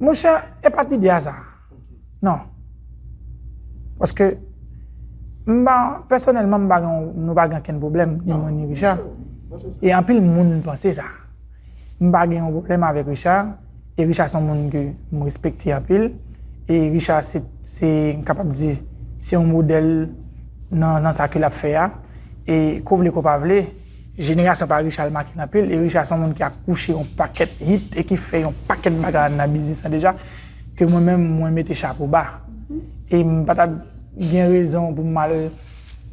Mon chè, e pa ti di a sa. Non. Paske, mba, pèsonèlman mba gen, nou pa gen ken problem, ni mwen ni Richard. E anpil moun panse sa. Mba gen yon problem avèk Richard, e Richard son moun ke m respekte anpil. E Richard se, se, m kapab di, se yon modèl nan sa ke l ap fè a. E ko vle ko pa vle. Jenerasyon pa Richard make m anpil e Richard son moun ki akouche yon pakèt hit e ki fè yon pakèt bagay nan biznis lan deja ke mwen menm mwen mete chapo ba e m pa ta gen rezon pou m al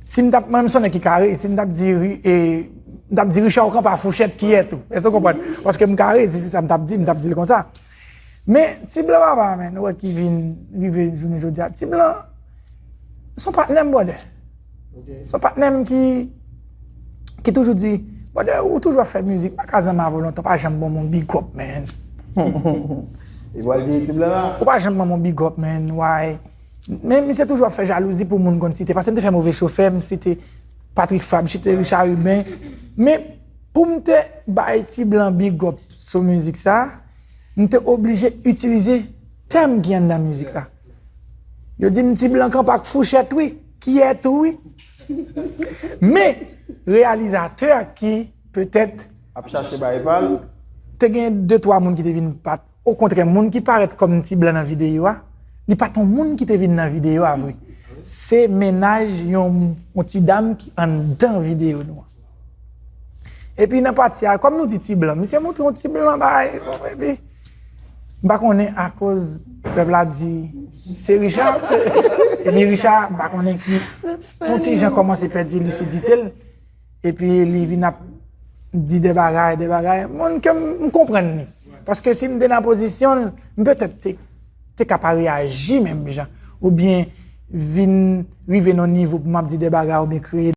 si m ta mwen menm son nèg ki kare si m ta di m ta di Richard ou kanpe a fouchèt kiyè tou èske w konprann paske m kare si se sa m ta di m ta di l konsa. Men, ti blan papa a menn, ou wè ki vin rive jounen jodi a. Ti blan, se yon patnè m bròdè. Se yon patnè m ki, ki toujou di, bròdè ou toujou ap fè mizik, pa ka zanmi avè w lontan, pa janm ban mwen yon big up menn. Li pral di ti blan a. Ou pa janm ban mwen yon big up menn, why? Men misye toujou ap fè jalouzi pou moun konn site. Pase m te fè Move Chofè, m site Patrick Fabre, m site Richard Rubin. Men, pou m te bay ti blan big up, Sou mizik sa a, m te oblije itilize tèm ki anndan mizik la. Yo di m ti blan kanpe ak fouchèt wi, kiyè tou wi. Men, reyalizatè a ki petèt. Ap chache bay pa l. Te gen de twa moun ki te vin pa. Okontrè, moun ki parèt kòm ti blan nan videyo a, li pa t yon moun ki te vin nan videyo a vre. Se mennaj yon ti dam ki anndan videyo nou an. Epi nan pati a, kòm nou di ti blan, misye montre yon ti blan bay, epi, m pa konnen akoz pèp la di se Richard, epi Richard m pa konnen ki, yon ti jan kòmanse pèdi lisidite l, epi li vin ap di de bagay, de bagay, moun ke m konprann li. Paske si m te nan pozisyon l, m petèt te ka pa reyaji menm jan, oubyen vin rive nan yon nivo pou m ap di de bagay oubyen kreye.